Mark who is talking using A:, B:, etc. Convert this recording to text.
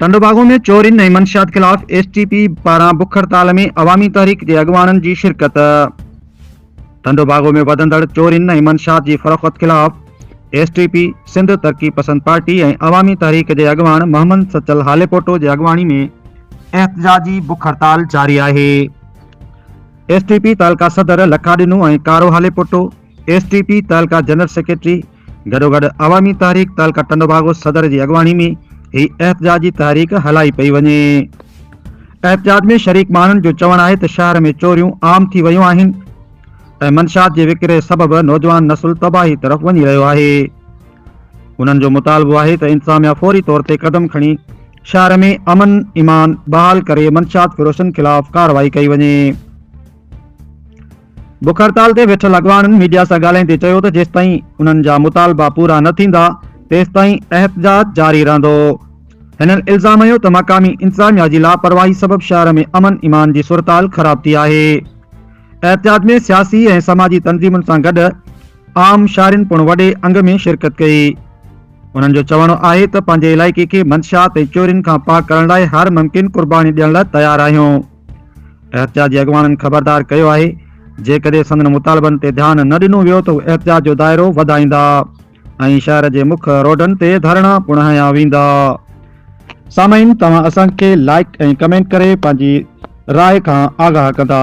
A: ٽنڊوباگو ۾ چورين ۽ منشيات خلاف ايس ٽي پي پاران بک هڙتال ۾ عوامي تحريڪ جي اڳواڻن جي شرڪت. ٽنڊوباگو ۾ وڌندڙ چورين ۽ منشيات جي فروخت خلاف S T P, Sindh Taraqi Pasand party ۽ عوامي تحريڪ جي اڳواڻ محمد سچل هاليپوٽو جي اڳواڻي ۾ احتجاجي بک هڙتال جاري آهي. ايس ٽي پي تعلقه صدر Lakha Dino ۽ Karo Halepoto, S T P تعلقه جنرل سيڪريٽري گڏوگڏ عوامي تحريڪ تعلقه ٽنڊوڀاڳو صدر جي اڳواڻي ۾ هي احتجاجي تحريڪ هلائي پئي وڃي. احتجاج ۾ شريڪ ماڻهن جو چوڻ آهي ته شهر ۾ چوريون عام ٿي ويون آهن ۽ منشيات جي وڪري سبب نوجوان نسل تباهي طرف وڃي رهيو آهي. انهن جو مطالبو آهي ته انتظاميا فوري طور تي قدم کڻي شهر ۾ امن ايمان بحال ڪري منشيات فروشن خلاف ڪارروائي ڪئي وڃي. بک هڙتال تي ويٺل اڳواڻن ميڊيا سان ڳالهائيندي چيو ته جيستائين انهن جا مطالبا پورا نه ٿيندا تيستائين احتجاج جاري رهندو. هنن الزام هنيو ته مقامي انتظاميا جي لاپرواهي سبب شهر ۾ امن ايمان جي صورتحال خراب ٿي آهي. احتجاج ۾ سياسي ۽ سماجي تنظيمن سان گڏ عام شهرين پڻ وڏي انگ ۾ شرڪت ڪئي. انهن جو چوڻ آهي ته پنهنجي علائقي کي منشيات ۽ چورين کان پاڪ ڪرڻ لاء هر ممڪن قرباني ڏيڻ لاء تيار آهيون. احتجاج جي اڳواڻن خبردار ڪيو آهي جيڪڏهن سندن مطالبن تي ڌيان نه ڏنو ويو ته هو احتجاج جو دائرو وڌائيندا ۽ شهر جي مک روڊن تي ڌرڻا پڻ هنيا ويندا سامعين توهان اسان کي لائڪ ۽ ڪمينٽ ڪري پنهنجي راء کان آگاهه ڪندا.